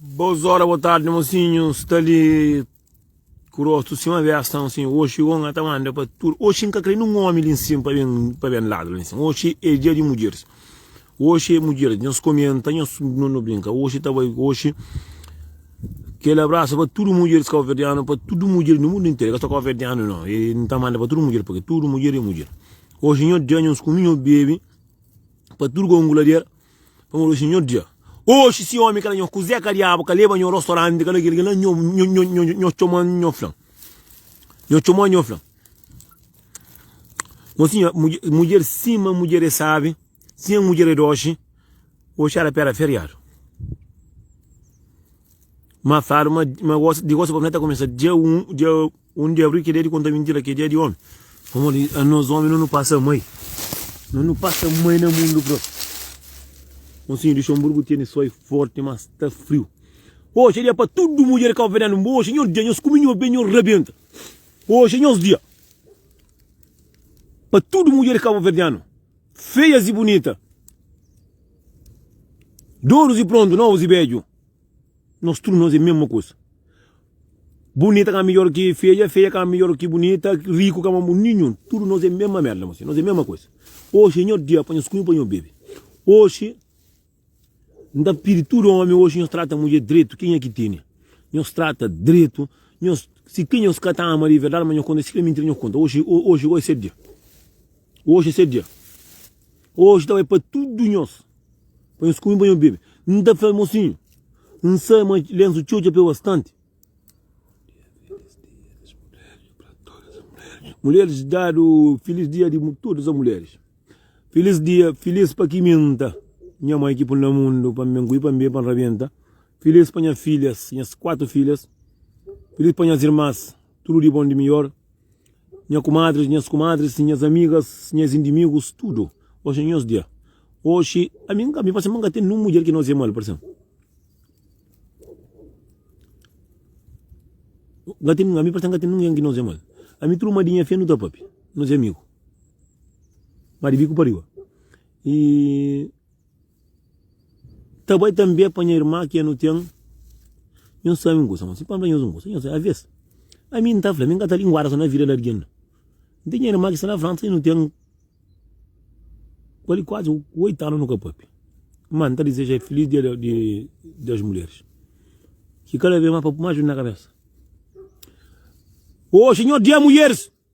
Bos ora, bo tardi mosinhu sta li ku rostu sin ma vesta mosinhu oxi o nga ta manda pa tudu oxi nka kre nin omi li nsin pa ben pa ben ladu li nsin oxi e dia di mudjeris oxi e mudjeris nhos komenta nhos no brinka oxi ta bai oxi kel abrasu pa tudu mudjeris kauverdianu pa tudu mudjeris di mundu interu e ka so kauverdianu no e N ta manda pa tudu mudjeris pake tudu mudjeris e mudjeris oxi nho da nhos kumi nho bebi pa tudu ku angulader Pamodi oxi nho dia. Oxi si omi kla nho kuzé ka diabu ka leba nho rostoranti kla kel kla nho nho txoma nho flan nho txoma nho flan mon sinha mudjer sima mudjer é sabi sinha mudjer é doxi oxi era pera feriadu ma fladu ma ma gosta di gosta pa fla ta kumesa dia un dia. Un dia ri, kedjadi konta mintira, kedjadi omi. Pamodi anos omi no nu pasa mai. No nu pasa mai na mundu bro. Mosinhu di Xonburgu tene soi forti ma sta friu. Oxe é dia pa tudu mudjer kabuverdianu nba oxe nhos dia nhos kume nhos be nhos rabenta oxe é nhos dia pa tudu mudjer kabuverdianu feias e bunita dorus e prontu novus e bedju. Nos tudu nos é mesma kusa. Bunita ka midjor ki feja, feja ka midjor ki bunita, riku ka ma. Ninhun. Tudu nos é mesma merda mos. Nos é mesma kusa. Oxi é nho dia pa nhos kume, pa nhos bebe. Oxi N ta pidi tudu omi oxi nhos trata mudjer dretu, kenha ki tene. Nhos trata dretu, nhos. Si ten nhos ka ta ama di verdadi, ma nhos konta. Si fla mintira nhos konta. Oxi, oxi, oxi goi sê dia. Oji é se dia Oji ta bai pa tudu nhos Pa nhos kume pa nhos bebe N ta fla mosinhu N sabe ma lensu txeu dja pe bastanti Mulheris dadu Filis dia di tudu es mulheris Filis dia Filis pa ki minta Nha mai ki pun na mundu Pa N kui pa N bebe pa N rabenta Filis pa nha filhas Nhas kuatu filhas Filis pa nhas irmas. Tudu di bon di mior Nha kumadris, nhas kumadris Nhas amigas, nhas indimigus Tudu, oxi é nhos dia Oxi, ami nka, mi parse ma nka ten Nun mudjer ki nozia mal, parse-m Nka ten, ami parse nka ten Nungen ki nozia mal Ami tudu ma di nha fé nu ta pape Nozia amigu, ma di biku pa riba Y. Ta bai tanbê pa nha irma ki é nu ten. Nhos sabe un kusa? Mon si pa fla nhos un kusa. Nhos sabe, avês, ami N ta fla, mi N ka ta linguada sô na vida di algen. N ten nha irma ki sta na Fransa i nu ten bali kuazi oitu anu nu ka pâpia. Má, N ta dizeja-l filís dia di das mulheris, ki kada bês más pa pui más djuntu na kabésa. Oji é nha dia di mulheris!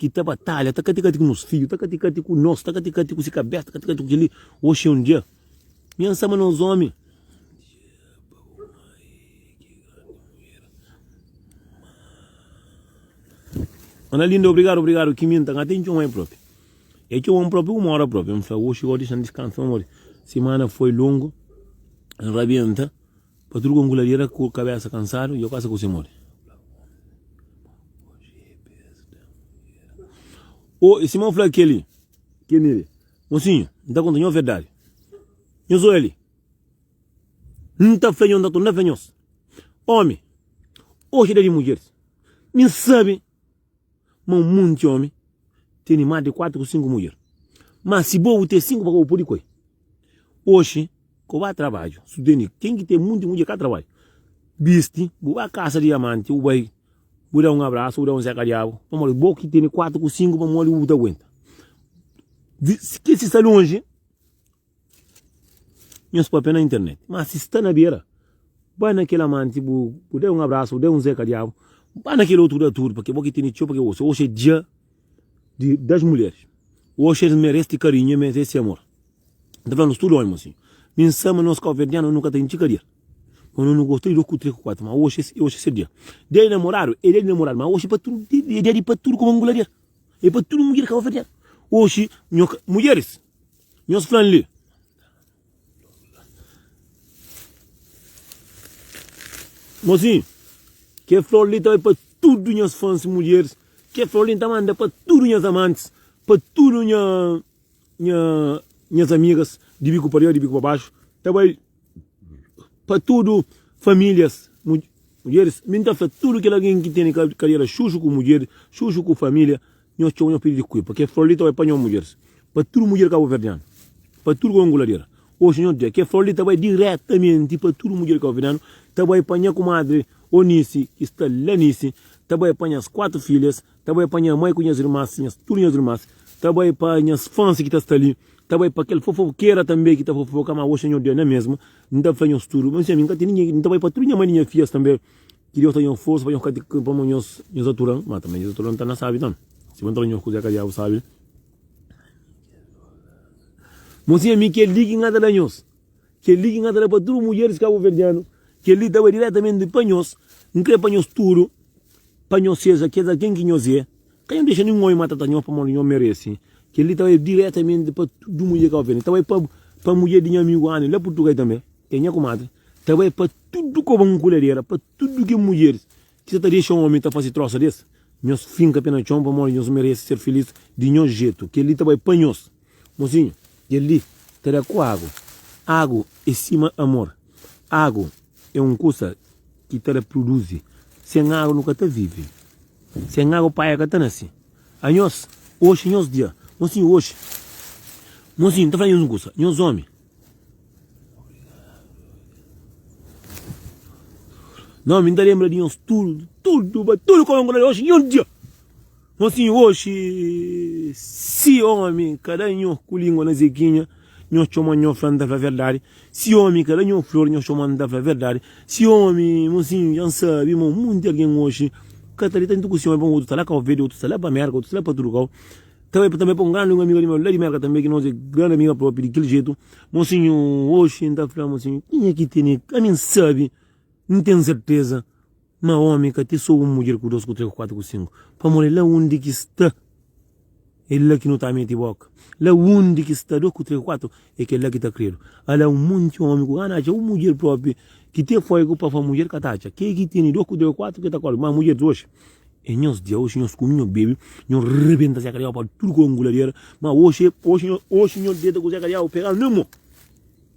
ki ta batalha ta kati-kati ku nos fidju, ta kati-kati ku nos, ta kati-kati ku se kabésa, ta kati-kati ku kel-li. Oxi é un dia. Nha Ansa, ma nos ómi. Ana linda, obrigadu, obrigadu. Ki mi N ta ka ten txoma el própi. El txoma-m própi un óra própi. N fla, oxi gó dixan diskansa un bokadinhu. Simana foi longu, N rabienta. Patruga un kuladera ku kabesa kansadu i o kasa ku se modi. O i sima un fla keli ke miri, Mosinhu, N ta konta nho verdadi. Nhos oja li. N ta fla nho, N ta torna fla nhos, Omi, oxi da di mudjeris, mi N sabi. ma un monti omi tene más di kuatu ku sinku mudjer. Má, si bo bu ten sinku, pa kau bu pode koi? Oxi, ko ba trabadju. Sutendi, ken ki ten monti mudjer ka trabadju. Bisti, bu ba kasa di amanti, bu bai, bu da un abrasu, bu da un seka-diabu. Pamodi bo ki tene kuatu ku sinku, pamodi bu ta aguenta? Di, si kel si sta lonji, Nhos papia na internet. Má si sta na bera, ba na kel amanti bu, bu da-l un abrasu, bu da-l un zeka diabu, ba na kel otu da tudu, pamodi bo ki tene txeu pa ke oxi. Oxi é dia di das mulheris. Oxi es merese ti karinhu, es merese ti amor. N ta fla nos tudu ómi asin. Mi N sa ma nos kabuverdianu nu ka ta intxi karier, pamodi nos nu gosta di dôs ku três ku kuatu. Má oxi, oxi é se dia. Dia di namoradu é dia di namoradu, má oxi é pa tudu, é dia di pa tudu, kómu angularier. É pa tudu mudjer kabuverdianu. Oxi, nho ka, mudjeris, Nhos fla-m li. Mozinhu, kel flor li ta bai pa tudu nhas fans mulheris. Kel flor li N ta manda pa tudu nhas amantis, pa tudu nha, nha, nhas amigas di biku pa riba, di biku pa baxu. Ta bai. Pa tudu famílias, mudjeris, mi N ta fla tudu kel algen ki tene kadera xuxu ku mudjer, xuxu ku família, nhos txeu nhos pidi dikuida, pa kel flor li ta bai pa nhos mudjeris, pa tudu mudjer kabuverdianu, pa tudu Angoladera. Oxi nhos ta dja, kel flor li ta bai diretamenti pa tudu mudjer kabuverdianu, ta bai pa nha kumadri Onisi ki sta la Nisi, ta bai pa nhas kuatu filhas, Ta bai pa nha mai ku nhas irmas, nhas tudu nhas irmas. Ta bai pa nhas fans ki ta sta li. Ta bai pa kel fofokera tanbe ki ta fofoka, ma oxi nha odia ne mesmu. N ta fla nhos tudu, menti ami n ka ten ningen. N ta bai pa tudu nha mai di nha fias tanbe. Ki Deus ta da nhos forsa pa nhos ka ti pamodi nhos nhos aturan, ma tanbe nhos aturan n ta na sabi tanbe. Si bo n ta fla nhos kuza ka diabu sabi. Menti ami kel li ki n ka ta da nhos. Kel-li ki N ka ta da pa tudu mudjeris kabuverdianu, kel-li ta bai diretamenti pa nhos. N krê pa nhos tudu, pa nhos seja kes algen ki nhos é. Ka nhos dexa nin un ómi matata nhos, pamodi nhos merese. Kel-li ta bai diretamenti pa tudu mudjer kabuverdianu, ta bai pa mudjer di nha amigu Anne, la Purtugai tanbê, ki é nha kumadri, ta bai pa tudu koba nkuladera, pa tudu ki mudjeris. Ki ta ta dexa un ómi ta fase trósa des? Nhos finka pe na txon pamodi nhos merese ser filís di nhos jetu. Kel-li ta bai pa nhos. Mozinhu, kel-li ta da ku agu. Agu é sima amor. Agu é un kusa ki ta da pruduzi. Sen agu nu ka ta vive. Sen agu paia ka ta nase. Anhos, oxi é nhos dia. Mozinhu, oxi. Mozinhu, N ta fla nhos un kusa. Nhos ómi. Nau mi ta lenbra di nhos tudu tudu ba tudu kau inkontra nhos oxi nin un dia fo si oxi si omi ka da nhos ku lingua na zekinha nhos txoma nhos fla nta fla verdadi si omi ka da nhos flor nhos txoma nta fla verdadi si omi mon si nha n sabi ma monti algen oxi ka ta li tantu ku si omi pamodi otu ta la kau verde otu ta la pa merka otu ta la pa tudu kau. Tanbê pa tanbê pa un grandi un amiga di meu la di Merka tanbê ki nos é grandi amiga propi di kel jetu mosinhu oxi n ta fla mosinhu kenha ki tene ka ami n sabi n ten serteza ma omi ka ti so un mudjer ku dos ku tres ku kuatu ku sinku pamodi la undi ki sta é la ki nu ta meti boka la undi ki sta dos ku tres ku kuatu É kel-la ki ta kre-nu. Ala un monti ómi ku gana atxa un mudjer própi ki ten foigu pa fla mudjer ka ta atxa. Ke ki tene dos kuderu, kuatu ke ta kóre. Má mudjer di oxi é nhos dia. Oxi nhos kume, nhos bebe, nhos rebenta Zé Kadiau pa tudu ki é onguladera. Má oxi, oxi, oxi nhos deta ku Zé Kadiau pega-l na mo.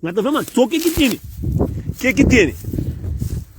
Nha ta fla-l, má so ke ki tene. Ke ki tene.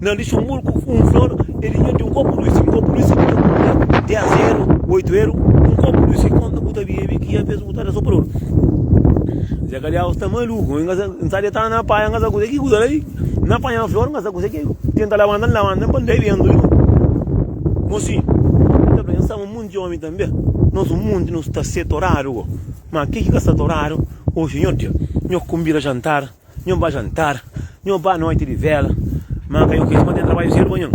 Na lixu un murku, un flor, e di dianti un kopu di uiski. Un kopu di uiski ki ta kunta ten zeru, oitu eru, un kopu di uiski konta ku ta bebe ki avês bu ta da so pa dôs. Zé Kalhaus ta maluku, N sa, N sa detanu na paia, N sa kuzê ki kuza li, N na panha flor, N sa kuzê ki ten ta labanta, N labanta, N pa N da e bentu li. Mosi, N ta fla, N sa ma monti omi tanbê, nos un monti nos ta sê toradu go, ma ki ki ka sta toradu, Ô Sinhor Dia, nho ku N bira jantar, Nho ba jantar, nho ba noite di vela Má ka yo kre, ma ten trabalho sério pa nho.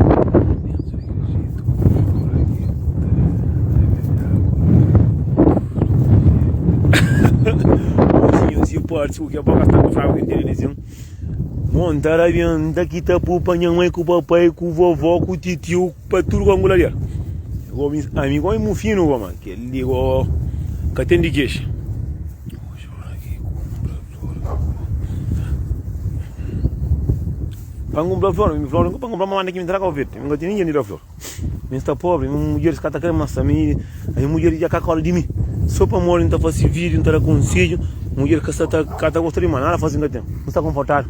forte porque a boca está com fraco que tem vizinho. Montar a vianda que tá por pra minha mãe, com o papai, com o vovó, com o titio, pra tudo com a angula dele. Amigo, oi, meu filho, mano, que ele ligou, que atende queixa. Pa ngun bla flor, mi flor ngu pa ngun bla mamá naki mi traga o verde, mi nga tene dinheiro flor. Mi sta pobre, mi mudjer ska ta kre mas ami, ami mudjer dja ka kola di mi. So pa modi nta fasi video, nta da konsedjo, mudjer ka sta ta gosta di ma nada fasi nta tem. Mi sta konfortadu.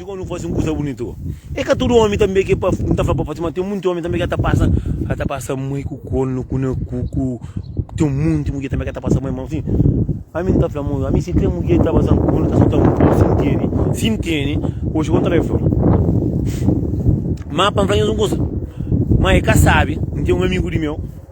Ti kónde nu faze un kuza bunitu? É ka tudu ómi tanbê ki pa N ta fla pa pa ti ma ten monti ómi tanbê ki el ta pasa el ta pasa mai ku kornu ku na ku ku ten monti mudjer tanbê ki el ta pasa mai ma si ami N ta fla ma ami si krê mudjer ta pasa-m kornu ta seta-m un si N tene si N tene oji kónde N ta bai fla-l ma pa N fla nhos un kuza ma el ka sabe N ten un amigu di meu.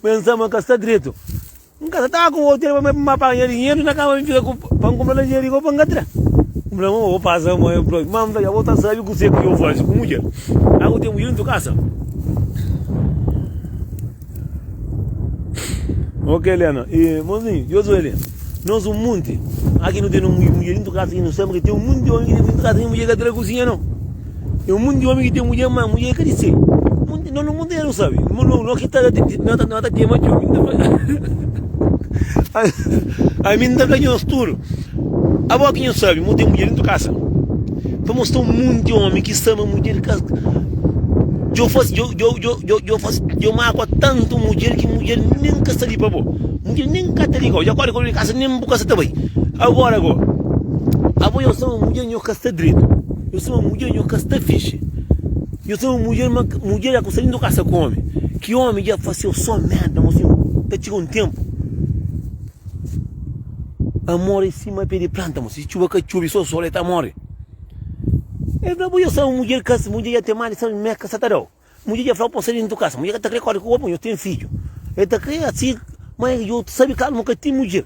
Pensa ma ka sta dretu. N ka ta ta ku otu el pa ma paga nha dinheru na kaba mi fika ku pa N kunpra lanjeriga o pa N ka tra. N fla, Mama, bo pasa ma el prontu. Mama fla, Bo ta sabe kuse ki N fasi ku mudjer? A bo ten mudjer na tu kasa? Ok, Lena. E, mozinhu, Josué li, nos un munti. Aki nu ten un mudjer na tu kasa ki nu sabe ki ten un munti di omi ki ten mudjer na tu kasa ki mudjer ka tra kusinha no. É un mundu di omi ki ten mudjer, má mudjer ka di se. Mundu, no no mundu é rusa be. No, no, no ki ta, no ta, no ta ten ma txeu. Ami nta fla nhos tudu. Abo ki nhos sabe, mo ten mudjer dentu kasa. Pa mo sta un mundu di omi ki sta ma mudjer ka. Djo fase, djo, djo, djo, djo, djo fase, djo makua tantu mudjer ki mudjer nen ka sta li pa bo. Mudjer nen ka ta li kau. Dja kore kau di kasa, nen bu kasa ta bai. Agora go, abo nhos sta ma mudjer, nhos ka sta dretu. Nho sima mudjer nho ka sta fixi Nho sima mudjer ma mudjer dja kumsa lindu kasa ku omi Ki omi dja faseu so merda Nho sima ta txiga un tenpu Amor e sima pe di planta mo Si txuba ka txubi so sol e ta mori E fla bo nho sima mudjer kas mudjer dja ten mali sa merka sa ta dau Mudjer dja fla bo sa lindu kasa mudjer ka ta kre kori ku omi Nho ten fidju e ta kre asi ma djo sabi kal mo ka ten mudjer.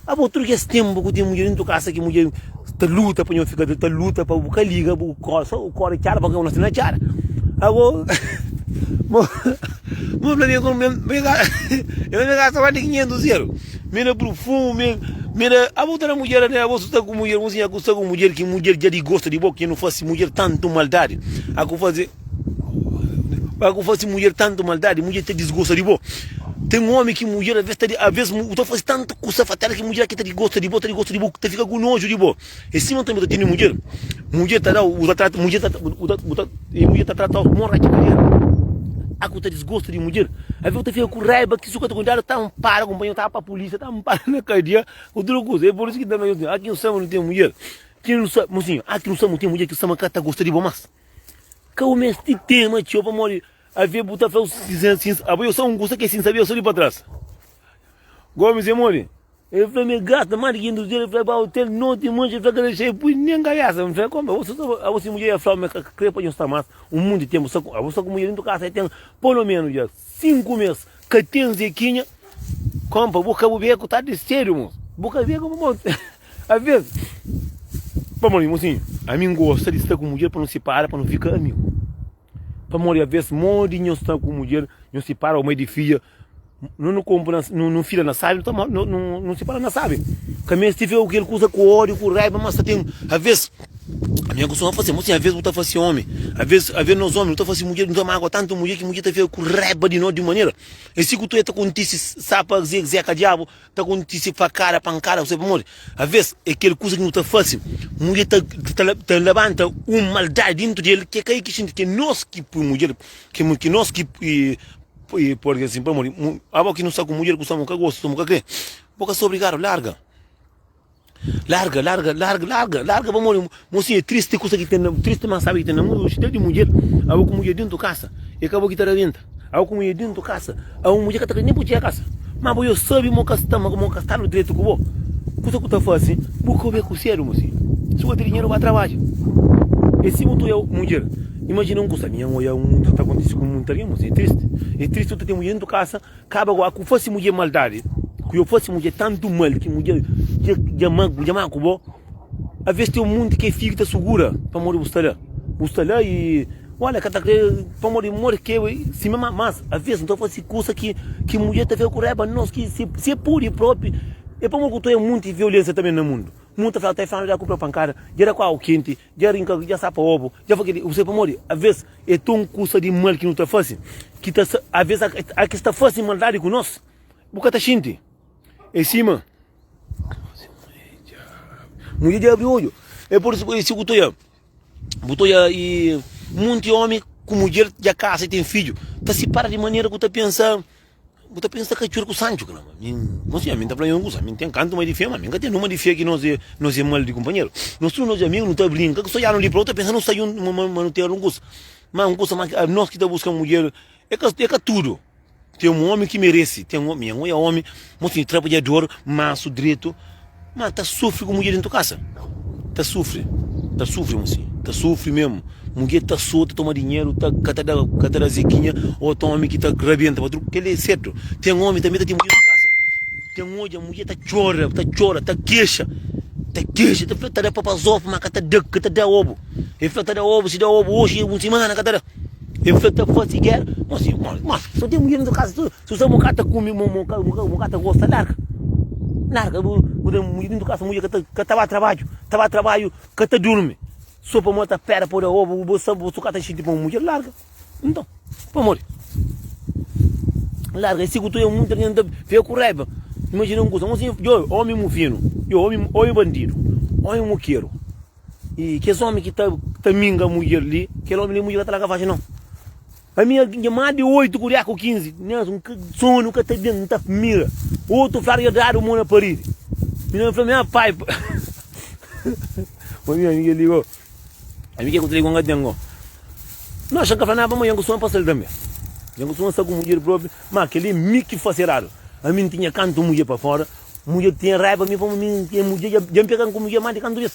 Abo tudo kes tempo ku ten mudjer dentro casa ki mudjer ta luta pa nho fika ta luta pa bu ka liga bu kor so bu kor txada pa nho sina txada ago bo bo fla mi ago me me ka ela me ka saba di 500 euro me na perfume me me na abo tene mudjer ane abo suta ku mudjer bo siña ku sta ku mudjer ki mudjer dja di gosta di bo ke nu fase mudjer tanto maldade a ku faze Pabia ku fasi mudjer tantu maldadi mudjer ta disgosta di bo ten omi ki mudjer aves ta aves u ta fasi tantu kusa fatal ki mudjer ki ta disgosta di bo ta disgosta di bo ta fika ku noju di bo e sima tanbe u ta tene mudjer mudjer ta dau u ta trata mudjer ta e mudjer ta tratau kuma un raca kariera a ku ta disgosta di mudjer aves u ta fika ku raiba ki su ka ta kontadu ta anpara kunpanheru ta pa polisia ta anpara na kadia utru kusa e por isu ki ta fla aski nu sabe nu ten mudjer ki nu sabe mu sinha aski nu sabe nu ten mudjer ki nu sabe ka ta gosta di bo mas. Ka u mesti tema txeu pamodi avia bu ta flau sin, sin, abo eu sa un kusa ke sin sabia eu sa li pa tras. Gomes e modi? El fla me gasta ma di 500 dólar, el fla ba hotel no ti manxa, el fla ka da xei pui nen kabesa, el fla kombe, abo sa ta, abo si mudjer ia flau me ka kre pa djon sta mas un monti tempu sa ku, abo sa ku mudjer dentu kasa ya ten polo menus dja 5 mes ka ten zekinha, kompa bu ka bu bia ku tardi sedu mo, bu ka bia ku bu. Alvês, pamodi, mosinhu, ami N gosta di sta ku mudjer pa nu sipara, pa nu fika amigu. Pamodi alvês, modi nhos sta ku mudjer, nhos sipara ô mai di fidja, nu nu konpu na, nu nu fila na sabi, nu ta mó, nu nu nu sipara na sabi. Ka meste fika ku kel kusa ku ódiu, ku raiba, ma sta ten. Alvês, ami N kustuma fase, mosinhu, alvês bu ta fase ómi, alvês, alvês nos ómi nu ta fase mudjer, nu ta mágua tantu mudjer ki mudjer ta fika ku raiba di nos di un manera. É si ku tudu el ta kontise, sa pa Zé, Zeka Diabu. Ta kontise fakada, pankada, ku se pamodi. Aves, é kel kuza ki nu ta fase. Mudjer ta, ta, ta labanta un maldadi dentru di el, ki é ka el ki xinti, ki é nos ki pui mudjer, ki, ki nos ki pui, pode di asin, pamodi abo ki nu sta ku mudjer ku sta, bo ka gosta, bo ka kre, bo ka sta obrigadu, larga. Larga larga larga larga larga pa modi mosi é tristi kusa ki ten na tristi ma sabe ki ten na mundu oxi ta di mudjer abo ku mudjer dentu kasa é ka bo ki ta rabenta abo ku mudjer dentu kasa a un mudjer ka ta krê nen bu txia kasa ma bo yo sabe mo ka sta mo ka sta lu dretu ku bo kusa ku ta fase bu ka be ku sedu mosi si bo ten dinheru ba trabadja e si bu ta oia mudjer imajina un kusa ami nha oia un kusa ta kontise ku munta algen mosi é tristi é tristi bo ta ten mudjer dentu kasa. Kaba goa ku fase mudje maldadi ku yo fase mudje tantu mal ki mudje dja dja ma mudje ma ku bo aves teu mundi ke figu ta sugura pamodi bu sta la bu sta la i ola ka ta kre pamodi modi ke sima ma mas aves nta fase kusa ki ki mudje ta fika ku raiba di nos ki si si e pudi propi e pamodi ku to e munti violensia ta ben na mundu mundu ta fla ta e fla ma dja kupra pankada dja da ku agu kenti Dja rinka, dja sapa obu, dja fla kel-li, Kuzê pamodi avês é ton kusa di mal ki nu ta fase? Ki ta sa, avês a kes ta fase maldadi ku nos, bu ka ta xinti? É sima. Mudjer dja abri odju. É pur isu ku si ku ta oja, bu ta oja i monti ómi ku mudjer dja kasa i ten fidju ta sipara di manera ku ta pensa Bu ta pensa ka txor ku sanju kna ma min bon sinhor min ta fla nhon kusa min ten kantu ma di fema min ka ten numa di fia ki nos e nos e mal di kunpanheru nos tudu nos amigu nu ta brinka ku sojanu li prau ta pensa nu sa juntu ma ma ma nu ten algun kusa ma un kusa ma ki nos ki ta buska un mudjer e ka e ka tudu ten un omi ki meresi ten un omi nha nhoi a omi mon sinhor trabadjador mansu dretu Ma ta sufri ku mudjer dentu kasa? Ta sufri, ta sufri mu si, ta sufri mesmu. Mudjer ta so, ta toma dinheru, ta ka ta da, ka ta da zikinha, o ta omi ki ta rabenta pa tudu. Kel li é sertu. Ten omi tanbe ta ten mudjer dentu kasa, ten odja mudjer ta txora, ta txora, ta kexa, ta kexa, ta fla ta da papazof ma ka ta da, ka ta da obu. E fla ta da obu, si da obu oxi un simana ka ta da. E fla ta fase gera. Mo si, mo, mo, so ten mudjer dentu kasa, Si bu sa bu ka ta kume, bu bu bu bu ka ta gosta, larga. Larga. Bu bu ten mudjer dentu kasa, mudjer ka ta ka ta ba trabadju, ta ba trabadju, ka ta durmi. So pamodi el ta pera pa bu da oba, bu sa bu ka ta xinti pa un mudjer, larga. Nton, pamodi? Larga. I si ku tudu munti algen ta fika ku raiba, imajina un kusa, un sinhor djo, omi mu finu, djo, omi omi bandidu, omi mukeru. I kes omi ki ta ta minga mudjer li, kel omi li mudjer ka ta laga faxi nau. Pa mi é dja más di oitu ku dja ku kinzi, nhas un ka, sonu ka ta ben, n ta mira otu fla dja dadu mo na paridi. Mi na fla nha pai, Ô nha amigu, el liga, ô ami ke ku ta liga un algen gó? Nos ka fla nada pa ma dja ku sonu pasa-l tanbe. Dja ku sonu sta ku mudjer propi, má kel-li é mi ki fase eradu. Ami n tinha kantu mudjer pa fora, mudjer tinha raiba mi pamodi mi, kel mudjer dja, dja n pega-m ku mudjer más di kantu bês.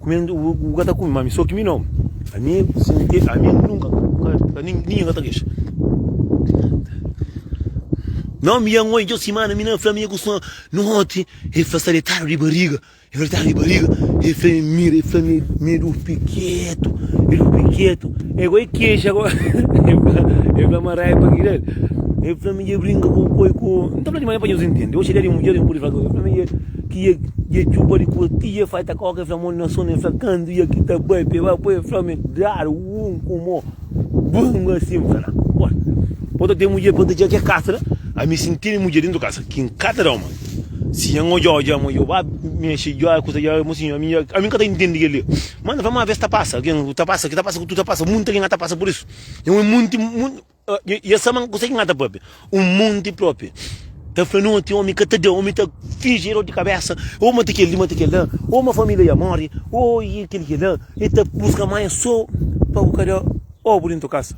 Kume-m, bu ka ta kume, ma ami so ki mi nomi. Ami sinti, ami nunka ka, ninhun ka ta kexa. No mi yango i djo simana mi na fla mi nha kuson noti e fla sta detadu di bariga e fla detadu di bariga e fla mi mira e fla mi mi durpi ketu mi durpi ketu e goi kexa go e fla ma raiba pa kila e fla mi dja brinka ku koi ku nta fla di ma nha pa nhos intende oxi dia di un dia di un pudi fla ku el e fla mi dja ki ia ia djuba di kua ti ia fai ta koka e fla mon na sonu e fla kandu ia ki ta bai pe bai po e fla me dar un ku mo bun asin fla na bora po ta ten mudje pa ta dja ke kasa a mi sinti mi mudje dentu kasa kin ka ta dau ma si en odja odja ma yo ba mexe dja e kusa dja mo sin ami dja ami ka ta intendi kel dia ma na fla ma aves ta pasa ken ta pasa ke ta pasa ku tu ta pasa munti algen a ta pasa por isu e un monti mun E es ama-m. Kuzê ki N ka ta pâpia? Un monti própi ta fla nau ti ómi ka ta da, ómi ta finji, é dór di kabésa, ô mante kel-li, mante kel-la, ô ma família dja móre, ô i kel-li, kel-la. El ta buska manha sô pa bu ka da obu déntu kasa.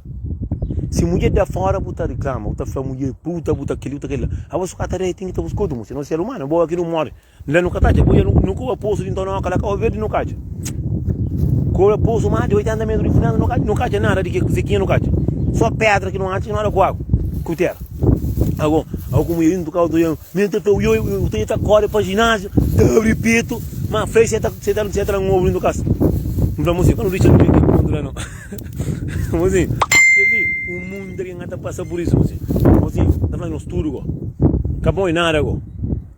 Si mudjer da fóra, bu ta riklama, bu ta fla mudjer, puta, bu ta kel-li, bu ta kel-la. Aos, bu ka ta da, el ten ki ta buska otu mudjer, senão si el umana, bo, kel-li, un móre. Nla nu ka ta atxa ku el, nu kobra posu di ntonoka la, kau verdi nu ka atxa. Kobra posu más di 80 metru di fundéndu, nu ka atxa nada di ke, se kinha nu ka atxa. So pedra ki nu atxa, ki nu ada ku agu, ku tera. Ago, ago ku mui indu kau toian, mi nta tau yo, yo toian ta kore pa ginasiu, ta abri petu, ma fai se ta, se ta, se ta la un ovu dintu kas. N fla Muzinho, ka nu dixa nu vê ke pontu la no. Muzinho, keli un munda ki nka ta pasa pur isu, Muzinho. Muzinho ta fla nos tudu go, ka boi nada go.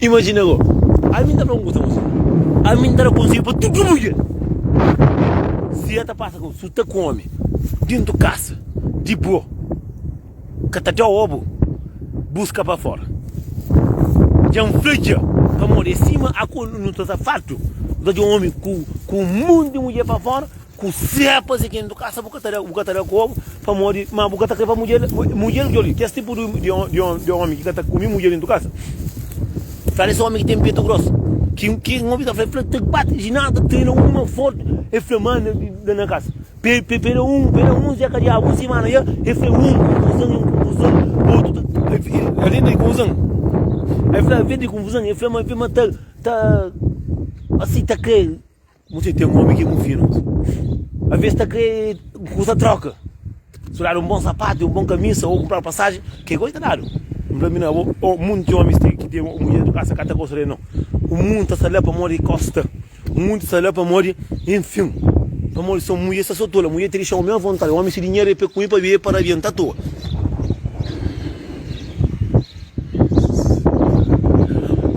Imajina go, ami n ta fla un kuza pa se, ami n ta da konselhu pa tudu mudjer, si el ta pasa ku, si bu sta ku omi dintu kasa di bo, ka ta dau obu buska pa fora. Dja n fla dja, pamodi é sima aku nu ta sta fartu, nu ta dja omi ku un monti di mudjer pa fora, Kusé pa faze ken nu kasa bu ka ta da bu ka ta da kobu pamodi ma bu ka ta kre pa mudjer mudjer ki djoli kes tipu di omi ki ka ta kumi mudjer intu kasa fla des omi ki ten petu gros ki ki un omi ta fla fla ta bati di nada ta trena uma forti e fla ma na na kasa pe pe peda un peda un dia ka diabu un simana dia e fla un konfuzon un konfuzon otu ta avia mei konfuzon e fla avia mei konfuzon e fla ma fla ma ta ta asi ta kre Mu txeu ten omi ki mu finu Alves es ta kre ku ku ta troka Su dadu un bon sapatu i un bon kamisa o kunpradu pasaji Ke gosi ta dadu N fla mi na bo o mundu ten omis ki ten mudjer di kasa ka ta gosi rei no O mundu ta sta la pamodi kosta O mundu ta sta la pamodi Enfim Pamodi son mudjer sta so tola Mudjer ta dixi omi avontadi Omi si dinheru e pe ku mi pa bibe pa rabienta toa.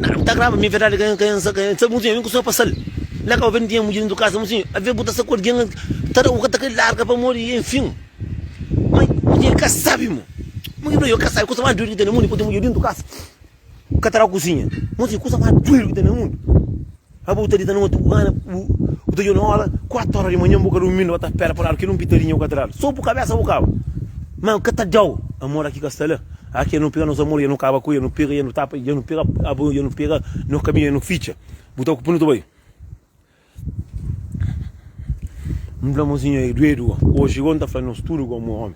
Nada ku ta agraba mi, verdadi ka ka nsa ka nsa muzinha, mi ku sonha pa sal. La ka obi n'tinha mudjer dentu kasa muzinha, avia bu ta sa ku algien ka ta da u ka ta kre larga pamodi enfim. Ma mudjer ka sabi mo, mo ki fla yo ka sabi kusa mas duidu ki ten na mundu i poi ten mudjer dentu kasa ka ta da u kuzinha. Muzinha kusa mas duidu ki ten na mundu. Aba bu ta dita na matu, Ana, bu ta djobe na óra kuatu óra di manhan, bu ka durmi, bu ka ta spera pa ladu kel un pitadinha ku ka ta dadu so bu kabesa bu kaba. Má bu ka ta dau amor aki ka sta la, aki el nu pega nos amor i el nu kaba ku el, nu pega i el nu tapa, i el nu pega aba, i el nu pega nos kabinha i nu fitxa. Bu ta oku pa nu ta bai? N fla, Monsinhor, e duedu oji, gou N ta fla nos tudu gomo omi,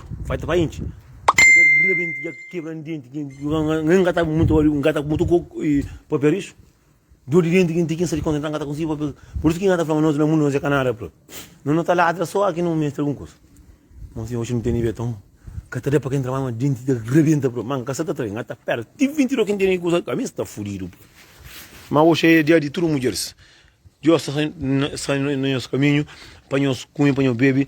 Vai te vai inchi. Rebenti dja kebra n denti kin n gata mutu ori n gata mutu ko papel isu. Dor di denti kin ti kin sa di konta n gata konsi papel. Por isu ki n gata fla ma nos na mundu nos é kanada pla. Nos na ta ladra so aki no mestra algun kusa. Mon si oxi n tene be toma. Ka ta da pa ken trabadju ma denti ta rebenta pla. Ma n ka sa ta trai n gata pera ti 22 kin tene ki kusa ami sta fudidu pla. Ma oxi é dia di tudu mudjeris. Dios sta sa na nos kaminhu pa nos kume pa nos bebe